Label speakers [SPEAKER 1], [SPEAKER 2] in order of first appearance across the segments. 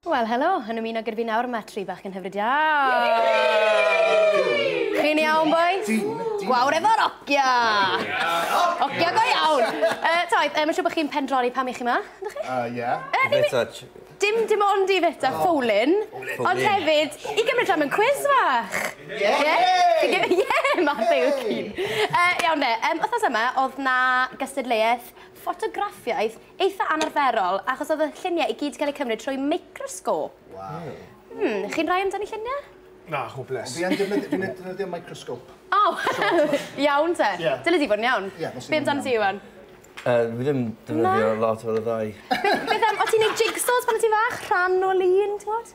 [SPEAKER 1] Wel helo, yn ymuno gyda fi nawr mae tri bach yn hyfryd iawn! Chi'n iawn boys? Gwawr efo rocia! Rocia go iawn! Uh, Toi, uh, mae'n siŵr bod chi'n pendroni pam i chi yma, ydych chi? Uh, yeah. Uh, dim,
[SPEAKER 2] dim, dim
[SPEAKER 1] ond i feta oh. ffowlin, ond hefyd i gymryd rhan mewn cwiz fach. Yeah! Yeah, yeah Matthew yw cyn. Uh, iawn de, um, wythnos yma oedd na gystadleuaeth ffotograffiaeth Eitha anarferol, achos oedd y lluniau i gyd 'di cael eu cymryd trwy microsgôp. Waw. Hmm, chi'n rhai amdani lluniau? Na, hopeless.
[SPEAKER 3] Fi yn defnyddio, fi'n defnyddio
[SPEAKER 4] microsgôp. O!
[SPEAKER 1] Iawn te. Ie. Dyle di fod yn iawn. Ie, nos Iau. Be amdano ti, Iwan? Yy, fi ddim
[SPEAKER 2] defnyddio lot o'r ddau. Beth am, o' ti'n
[SPEAKER 1] neud jigsaws pan o' ti'n fach? Rhan o lun, t'mod?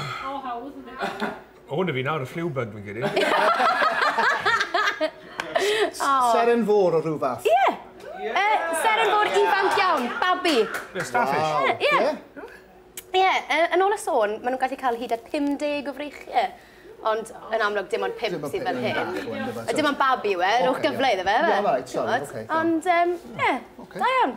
[SPEAKER 5] O, hawdd, yn dweud. O, na
[SPEAKER 3] fi nawr, y flu bug, fi'n credu.
[SPEAKER 4] Seren fôr o rhyw fath. Ie! Yeah.
[SPEAKER 1] seren fôr ifanc iawn, babi. Ie, starfish. Wow.
[SPEAKER 3] Ie. Yeah.
[SPEAKER 1] Ie, yeah, yn ôl y sôn, maen nhw'n gallu cael hyd at 50 o freichiau. Ond yn amlwg dim ond pimp sydd fel hyn. A dim ond babi yw e, rhowch gyfle iddo fe. Ie, right, sorry, okay.
[SPEAKER 4] Ond, ie,
[SPEAKER 1] da iawn.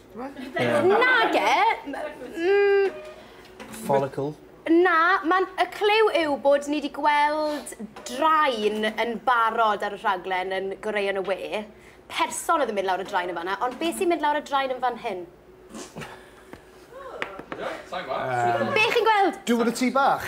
[SPEAKER 3] Yeah.
[SPEAKER 1] Nage! Mm.
[SPEAKER 2] Follicle. Na,
[SPEAKER 1] mae'n y clyw yw bod ni wedi gweld draen yn barod ar y rhaglen yn goreu yn y we. Person oedd yn mynd lawr y draen yn fanna, ond beth sy'n mynd lawr y draen yn fan hyn? Be chi'n gweld? Dŵr y tŷ bach.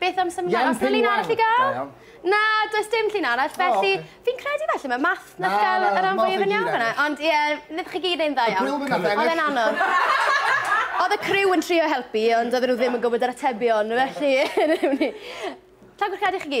[SPEAKER 1] Beth am symud mlaen? Os na llun arall i gael? Na, does dim llun arall, felly... Fi'n credu felly, mae math na gael yr am fwyaf yn iawn fyna. Ond ie, wnaethoch chi gyd ein dda iawn. Y gwyl fyna, Oedd e'n anodd. Oedd y criw yn trio helpu, ond oedden nhw ddim yn gwybod yr atebion, felly... Tagwch credu chi gyd.